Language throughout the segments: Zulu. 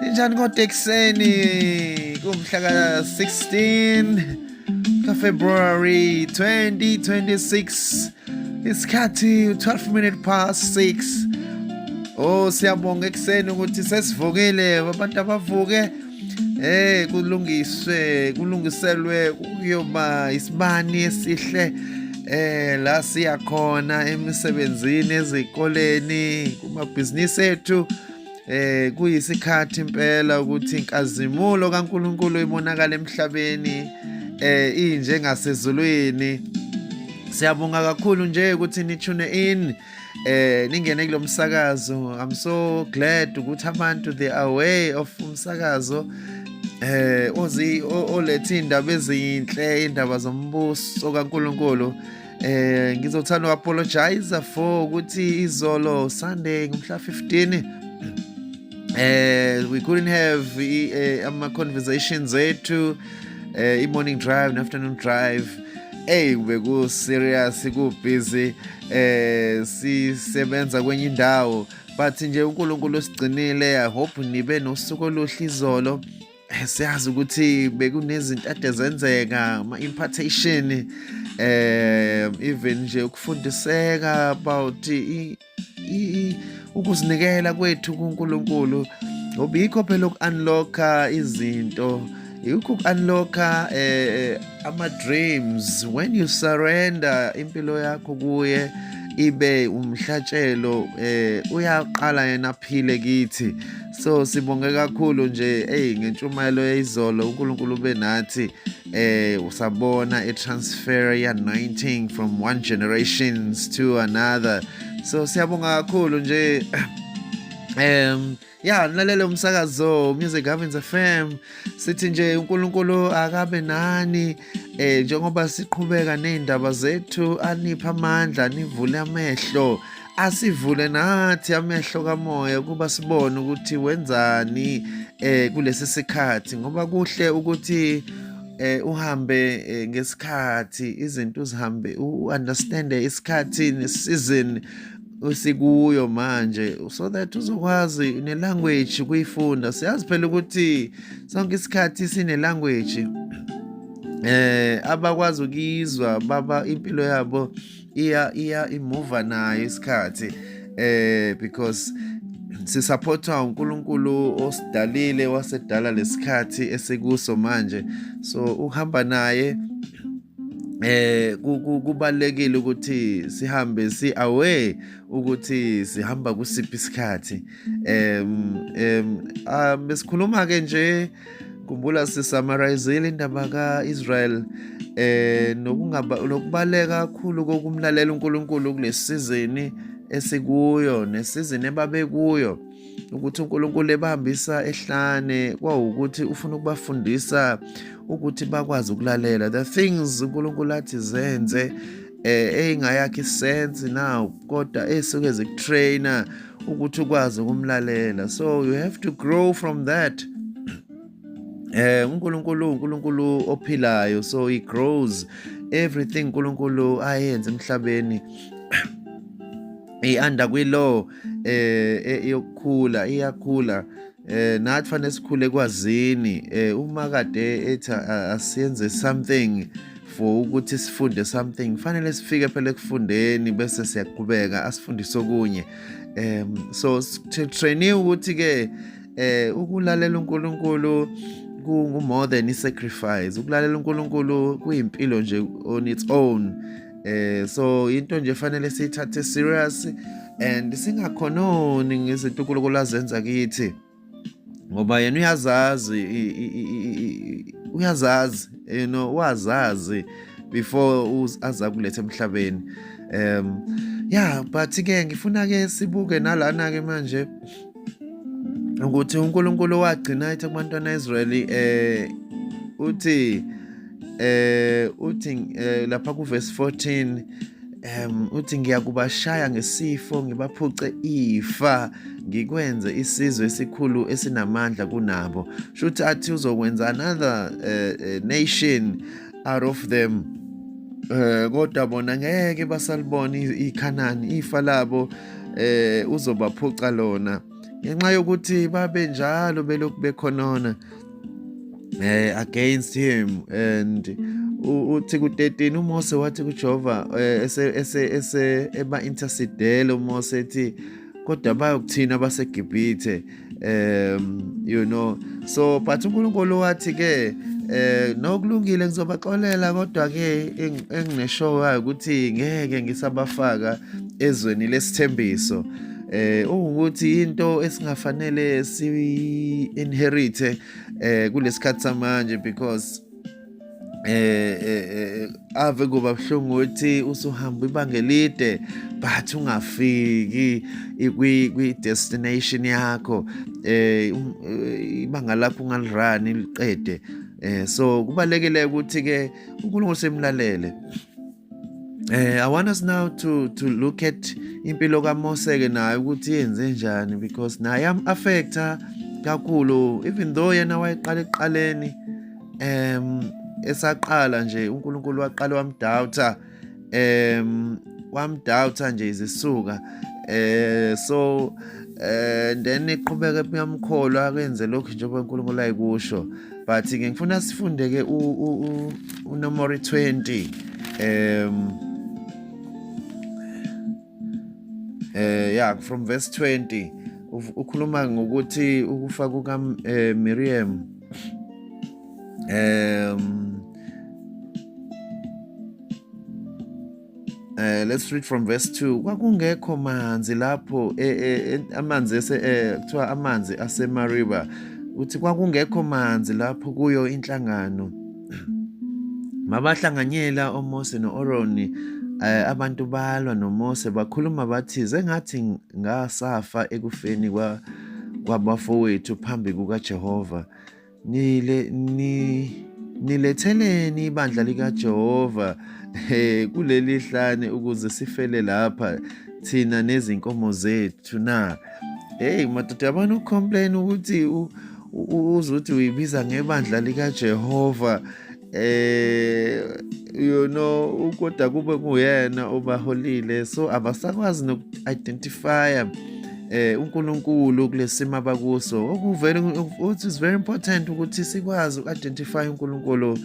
Ninjani kodwa ekuseni kumhla ka-16 kaFebruary 2026 isikhathi 12 minute past 6 Oh siyabonga ekuseni ukuthi sesivukile abantu abavuke eh kulungiswe kulungiselwe kuyoba isibani esihle eh la siya khona emisebenzini ezikoleni kumabhizinisi ethu eh kuyisikhathi impela ukuthi inkazimulo kaNkuluNkulu ibonakala emhlabeni eh inje ngasezulwini siyabonga kakhulu nje ukuthi ni tune in eh ningene kulomsakazo i'm so glad ukuthi abantu they are aware of umsakazo eh ozi olethe indaba ezinhle indaba zombuso kaNkuluNkulu eh ngizothanda u apologize for ukuthi izolo Sunday ngomhla 15 eh we couldn't have eh, ama conversations ethu eh i morning drive and afternoon drive hey beku serious ku busy eh sisebenza kwenye indawo but nje uNkulunkulu usigcinile i hope nibe nosuku oluhle izolo eh, siyazi ukuthi bekunezinto ade zenzeka ama-impartation eh even nje ukufundiseka about ukuzinikela kwethu kuNkulunkulu ngoba yikho phela uku-unlocka izinto yikho uku-unlocka eh, eh ama-dreams when you surrender impilo yakho kuye ibe umhlatshelo eh uyaqala yena aphile kithi so sibonge kakhulu nje eyi ngentshumayelo yayizolo unkulunkulu ube nathi eh usabona i-transfer ye-anointing from one generations to another so siyabonga kakhulu nje um ya nilalele umsakazo music havens fm sithi nje unkulunkulu akabe nani eh njengoba siqhubeka ney'ndaba zethu aniphe amandla nivule amehlo asivule nathi amehlo kamoya ukuba sibone ukuthi wenzani eh kulesi sikhathi ngoba kuhle ukuthi eh uhambe eh, ngesikhathi izinto uzihambe u understand isikhathi ne season usikuyo manje so that uzokwazi ne language kuyifunda siyazi phela ukuthi sonke isikhathi sine language eh abakwazi ukizwa baba impilo yabo iya iya imuva nayo isikhathi eh because sisupportwa uNkulunkulu osidalile wasedala lesikhathi esikuso manje so uhamba naye eh kubalekile ukuthi sihambe si away ukuthi sihamba kusiphi isikhathi em em ah, besikhuluma ke nje khumbula sisamarayizile indaba ka-israel eh nokubaleka kakhulu kokumlalela uNkulunkulu kulesizini esikuyo nesizini ebabekuyo ukuthi uNkulunkulu ebahambisa ehlane kwawukuthi ufuna ukubafundisa ukuthi bakwazi ukulalela the things uNkulunkulu athi zenze eh eyingayakhi sense now kodwa esuke zikutrainer ukuthi ukwazi ukumlalela so you have to grow from that eh uNkulunkulu uNkulunkulu ophilayo so he grows everything uNkulunkulu ayenze emhlabeni ihanda kwi-law eh, eh yokukhula iyakhula eh nathi fanele sikhule kwazini eh uma kade ethi asiyenze something for ukuthi sifunde something fanele sifike phela ekufundeni bese siyaqhubeka asifundise okunye um so trainiwe ukuthi ke eh ukulalela uNkulunkulu kungu more than i sacrifice ukulalela uNkulunkulu kuyimpilo nje on its own eh so into nje fanele siyithathe serious and singakhononi ngezintukulukulo azenza kithi ngoba yena uyazazi uyazazi you know wazazi before aza kulethe emhlabeni um yeah but ke ngifuna ke sibuke nalana ke manje ukuthi uNkulunkulu wagcina ethe kubantwana Israyeli eh uthi eh uthi eh, lapha ku verse 14 um uthi ngiyakubashaya ngesifo ngibaphuce ifa ngikwenze isizwe esikhulu esinamandla kunabo shuthi athi uzokwenza another uh, nation out of them eh kodwa bona ngeke basalibona iKhanani ifa labo eh uzobaphuca lona ngenxa yokuthi babe njalo belokhu bekhonona eh against him and uthi ku-13 umose wathi kujehova eh, ese ese ese eba-intercedele umose ethi kodwa bayokuthina basegibhithe um you know so but uNkulunkulu wathi ke eh nokulungile ngizobaxolela kodwa ke engineshow wayo ukuthi ngeke ngisabafaka ezweni lesithembiso eh ukuthi into esingafanele si inherite eh kulesikhathi samanje because eh, eh, eh ave kuba buhlungu ukuthi usuhamba ibanga elide but ungafiki kwi destination yakho eh um, eh, ibanga lakho ungalirani liqede eh so kubalekile ukuthi ke uNkulunkulu semlalele Eh, I want us now to to look at impilo kaMose ke naye ukuthi yenze njani because naye am affecta kakhulu even though yena wayeqala eqaleni um esaqala nje uNkulunkulu waqala wamdoubter um wamdoubter nje izisuka eh so eh then iqhubeke kuyamkholwa akenze lokhu njengoba uNkulunkulu ayikusho but ke ngifuna sifunde ke unomori 20 um eh yeah from verse 20 ukhuluma ngokuthi ukufa kuka eh, Miriam um Uh, let's read from verse 2 kwakungekho manzi lapho e, e, e, amanzi kuthiwa amanzi asemariba uthi kwakungekho manzi lapho kuyo inhlangano mabahlanganyela omose no-oroni Eh, abantu balwa noMose bakhuluma bathi sengathi ngasafa ekufeni kwabafowethu phambi kukaJehova Nile ni niletheleni ibandla likaJehova eh kuleli hlane ukuze sifele lapha thina nezinkomo zethu na hey madoda abantu complain ukuthi uzothi uyibiza ngebandla likaJehova eh you know kodwa kube kuyena obaholile so abasakwazi noku-identifya eh uNkulunkulu kulesimo abakuso okuvele ukuthi is very important ukuthi sikwazi uku-identify uNkulunkulu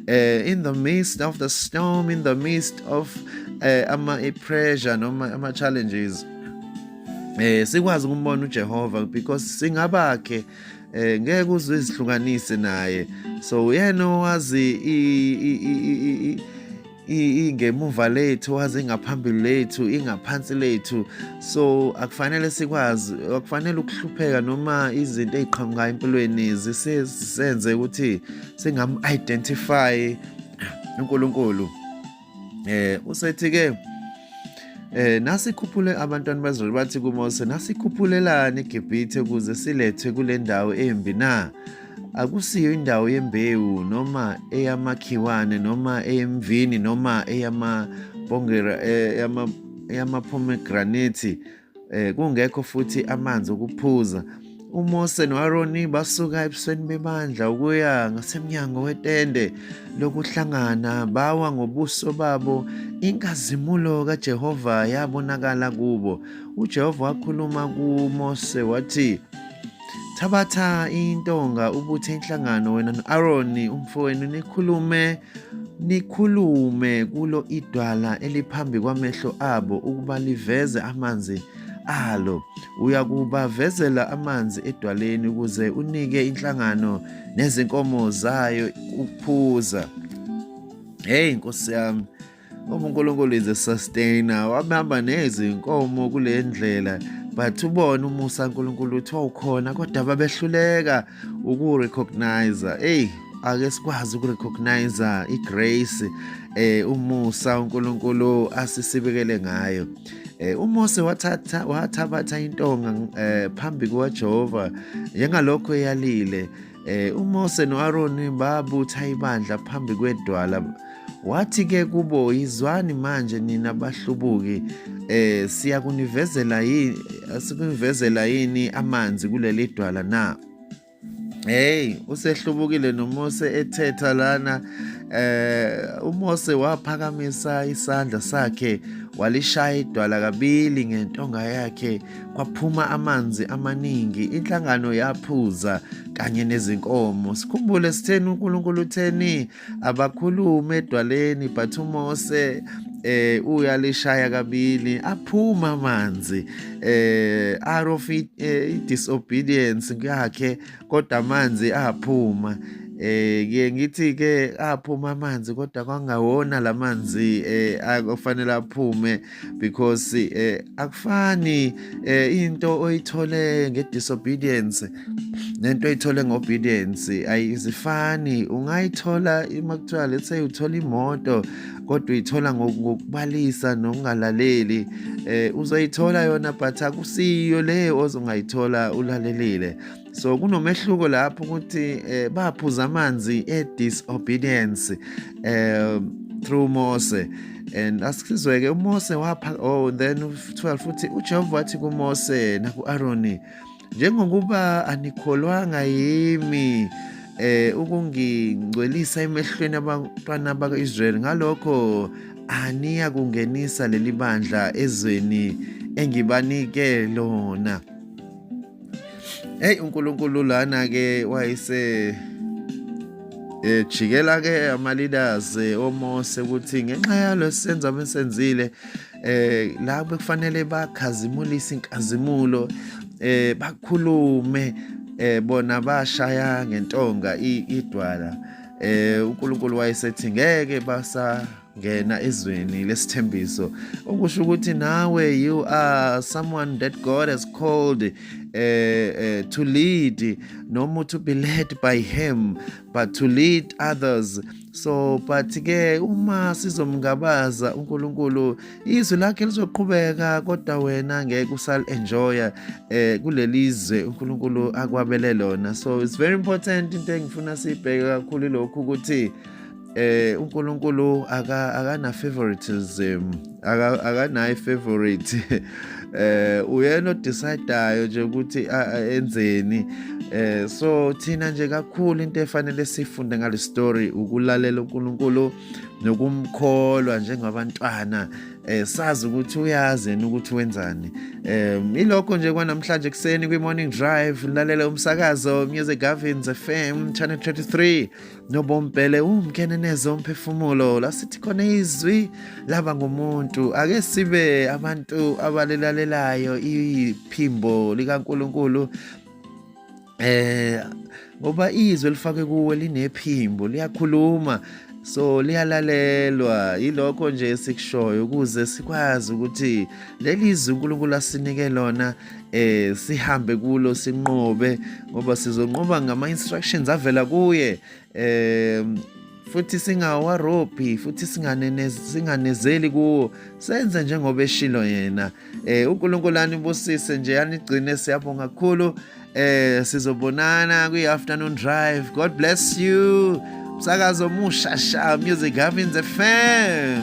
eh in the midst of the storm in the midst of eh ama pressure noma ama challenges eh sikwazi ukumbona uJehova because singabakhe eh ngeke uze izihlukanise naye so uyena owazi ingemuva lethu wazi ingaphambili lethu ingaphansi lethu so akufanele sikwazi akufanele ukuhlupheka noma izinto eziqhamukayo empilweni zisenze ukuthi singamu-identify uNkulunkulu eh usethi ke eh nasikhuphule abantwana bazulu bathi kuMose nasikhuphulelani eGibhithe kuze silethwe kule ndawo embi na akusiyo indawo yembewu noma eyamakhiwane noma eyemvini noma eyama bongera eh, eyama pomegranate eh, kungekho futhi amanzi okuphuza uMose noAroni basuka ebusweni bebandla ukuya ngasemnyango wetende lokuhlangana bawa ngobuso babo inkazimulo kaJehova yabonakala kubo uJehova wakhuluma kuMose wathi Thabatha intonga ubuthe inhlangano wena no-Aroni umfowenu nikhulume nikhulume kulo idwala eliphambi kwamehlo abo ukuba liveze amanzi alo uyakubavezela amanzi edwaleni ukuze unike inhlangano nezinkomo zayo ukuphuza hey nkosi yami ngoba uNkulunkulu is a sustainer wabamba nezinkomo kule ndlela but ubona umusa uNkulunkulu uthi wawukhona kodwa babehluleka ukurecognize hey ake sikwazi ukurecognize igrace eh umusa uNkulunkulu asisibekele ngayo eh uMose wathatha wathabatha intonga eh phambi kwaJehova njengalokho eyalile Eh uMose noAroni babutha ibandla phambi kwedwala wathi ke kubo yizwani manje nina bahlubuki eh siyakunivezela yini sikunivezela yini amanzi kuleli dwala na Hey usehlubukile noMose ethetha lana eh uMose waphakamisa isandla sakhe walishaya idwala kabili ngentonga yakhe kwaphuma amanzi amaningi inhlangano yaphuza kanye nezinkomo sikhumbule sitheni uNkulunkulu utheni abakhulume edwaleni but uMose eh uyalishaya kabili aphuma amanzi eh out of it, eh, disobedience yakhe kodwa amanzi aphuma eh ke ngithi ke aphuma amanzi kodwa kwangawona lamanzi eh akufanele aphume because eh akufani eh into oyithole ngedisobedience nento oyithole ngobedience ayizifani ungayithola uma kuthiwa let's say uthola imoto kodwa uyithola ngokubalisa nokungalaleli eh uzoyithola yona but akusiyo le ozongayithola ulalelile so kunomehluko lapho ukuthi eh, baphuza amanzi e-disobedience eh, through mose and asizwe-ke umose wapha oh then 12 futhi ujehova wathi kumose naku-aroni njengokuba anikholwanga yimi eh ukungingcwelisa emehlweni abantwana baka-Israyeli ngalokho aniya kungenisa leli bandla ezweni engibanike lona Hey uNkulunkulu lana ke wayise ejikela eh, ke amaleaders eh, omose ukuthi ngenxa yalo senza abesenzile eh la bekufanele bakhazimulise inkazimulo eh bakhulume eh bona bashaya ngentonga idwala eh uNkulunkulu wayesethi ngeke basa ngena ezweni lesithembiso okusho ukuthi nawe you are someone that God has called uh, uh, to lead noma to be led by him but to lead others so but ke uma sizomngabaza uNkulunkulu izwi lakhe lizoqhubeka kodwa wena ngeke usal enjoya eh kulelizwe uNkulunkulu akwabele lona so it's very important into engifuna sibheke kakhulu lokhu ukuthi eh uNkulunkulu aka akana favoritism aka akanayi favorite eh uyena odecideayo nje ukuthi enzeni eh so thina nje kakhulu into efanele sifunde ngale story ukulalela uNkulunkulu nokumkholwa njengabantwana eh sazi ukuthi uyazi yena ukuthi wenzani eh ilokho nje kwanamhlanje kuseni kwi morning drive lalela umsakazo Music Gavins FM channel 33 nobombhele umkenenezo omphefumulo lasithi khona izwi laba ngumuntu ake sibe abantu abalilalelayo iphimbo likaNkuluNkulu eh ngoba izwi elifake kuwe linephimbo liyakhuluma so liyalalelwa yilokho nje esikushoyo ukuze sikwazi ukuthi leli zwi uNkulunkulu asinike lona eh sihambe kulo sinqobe ngoba sizonqoba ngama instructions avela kuye eh futhi singawarobhi futhi singanezeli kuwo senze njengoba eshilo yena eh uNkulunkulu anibusise nje anigcine siyabonga kakhulu eh sizobonana kwi afternoon drive god bless you msakazo musha sha music having the fam